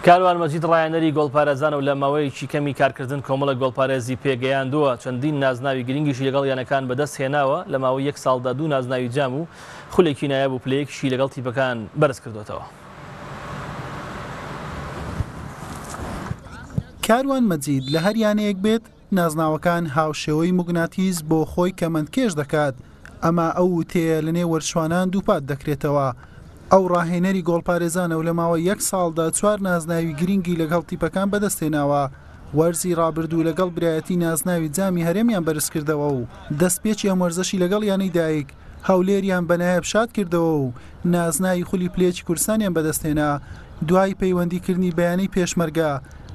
کاروان مەجید ڕایانەری گۆڵپارێزان و لە ماوەیەکی کەمی کارکردن کۆمەڵێک گۆڵپارێزی پێ گەیاندووە، چەندین نازناوی گرنگیشی لەگەڵ یانەکان بەدەست هێناوە، لە ماوەی یەک ساڵدا دوو نازناوی جام و خولێکی نایاب و پلەیەکیشی لەگەڵ تیپەکان بەرز کردووەتەوە. کاروان مەجید لە هەر یانەیەک بێت، نازناوەکان هاوشێوەی موگناتیس بۆ خۆی کەمەندکێش دەکات، ئەمە ئەو وتەیە لە نێوەرچوانان دووپات دەکرێتەوە. ئەو ڕاهێنەری گۆڵپارێزانە و لە ماوەی یەک ساڵدا چوار نازناوی گرینگی لەگهڵ تیپەکان بەدەستهێناوە، وەرزی ڕابردوو لەگەڵ برایەتی نازناوی جامی هەرێمیان بەرزکردەوە و دەستپێکی ئەم وەرزەشی لەگەڵ یانەی دایک هەولێریان بە نایاب شاد کردەوە و نازناوی خولی پلێچی کوردستانیان بەدەستهێنا، دوای پەیوەندیکردنی بە یانەی پێشمەرگە،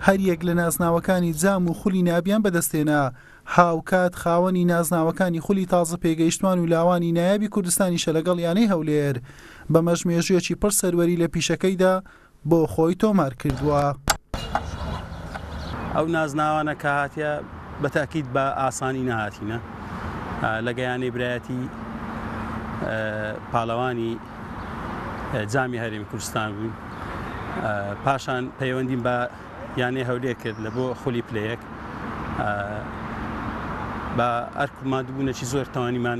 هەریەک لە نازناوەکانی جام و خولی نابیان بەدەستهێنا، هاوکات خاوەنی نازناوەکانی خولی تازە پێگەیشتوان و لاوانی نایابی کوردستانیشە لەگەڵ یانەی هەولێر، بەمەش مێژوویەکی پڕ سەروەری لە پیشەکەیدا. بۆ خۆی تۆمار کردووە. ئەو نازناوانە کە هاتیە بە تەئکید بە ئاسانی نەهاتینە لە گەیانەی برایەتی پالەوانی جامی هەرێمی کوردستان بووین پاشان پەیوەندیم بە یانەی هەولێر کرد لە بۆ خولی پلە یەک بە ئەرک و مادبوونەکی زۆر توانیمان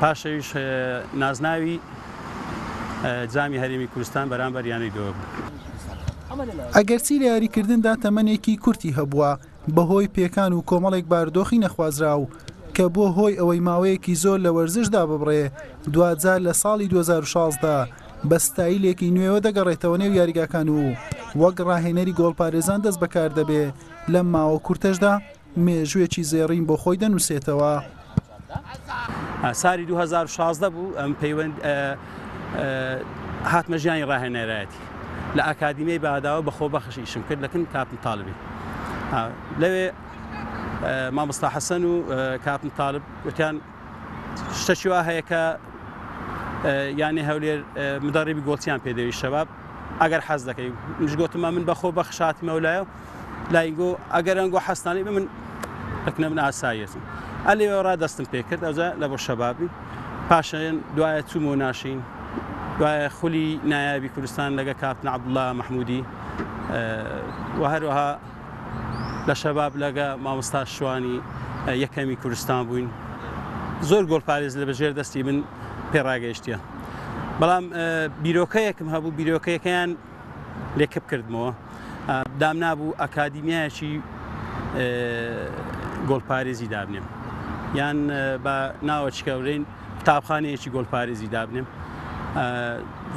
پاشئەویش نازناوی جامی هەرێمی کورستان بەرامبەر یانەی دۆک بوو. ئەگەرچی لە یاریکردندا تەمەنێکی کورتی هەبووە بەهۆی پێکان و کۆمەڵێک باردۆخی نەخوازراو کە بووە هۆی ئەوەی ماوەیەکی زۆر لە وەرزش داببڕێ، دواجار لە ساڵی دوو هەزار و شازدە بە ستایلێکی نوێوە دەگەڕێتەوە نێو یاریگاکان و وەک راهێنەری گۆڵپارێزان دەستبەکاردەبێ، لەم ماوە کورتەشدا مێژووێکی زێڕین بۆ خۆی دەنووسێتەوە. سالی دوو هەزار و شازدە بوو ئەم پەیوەند هاتمە ژیانی ڕاهێنەرایەتی لە ئاکادیمیای باداوە بە خۆبەخش ئیشم کرد لەکن کاپن تاالبی لەوێ مامۆستا حەسەن و کاپن تاالب وتیان شتەکی وا هەیە کە یانێ هەولێر مدەڕیبی گۆڵچیان پێدەوی شەباب ئەگەر حەز دەکەی مش گوتمە من بەخۆ بەخشاتمەولایە لایگۆ ئەگەرەن گۆ حەستانی بە من ئەکنە من ئاسایەتم ئەلی وێڕا دەستم پێکرد ئەوجا لە بۆ شەبابی پاشەن دوایە چوم و ناشین دوایە خولی نایابی کوردستان لەگە کاپتن عبدڵە مححمودی و هەروەها لە شەباب لەگە مامۆستا شوانی یەکەمی کوردستان بووین زۆر گۆڵپارێز لە بەژێر دەستی من پێڕاگەیشتە بەڵام بیرۆکەیەکم هەبوو بیرۆکەکەیان لێ کپ کردمەوە دامنابوو ئەکادیمیایەکی گۆڵپارێزی دابنێم یان بە ناوەچکەورین قوتابخانەیەکی گۆلپارێزی دابنێم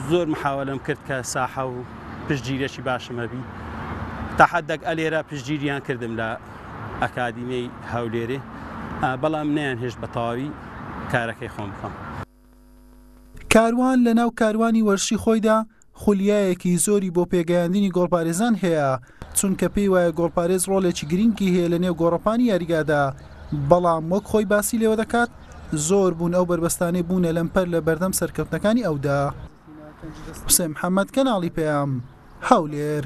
زۆر محاولم کرد کە ساحە و پشتگیرێکی باشمەبی تاحدەک ئەلێرە پشتگیریان کردم لە ئەکادیمیی هەولێرێ بەڵام نیان هێشت بە تەواوی کارەکەی خۆم بکەم. کاروان لە ناو کاروانی وەرشی خۆیدا خولیایەکی زۆری بۆ پێگەیاندنی گۆڵپارێزان هەیە، چونکە پێی وایە گۆڵپارێز ڕۆڵێکی گرینگی هەیە لە نێو گۆڕەپانی یاریگادا، بەڵام وەک خۆی باسی لێوە دەکات زۆر بوون ئەو بەربەستانەی بوونە لەمپەر لە بەردەم سەرکەوتنەکانی ئەودا. حوسێن محەمەد، کەناڵی پەیام، هەولێر.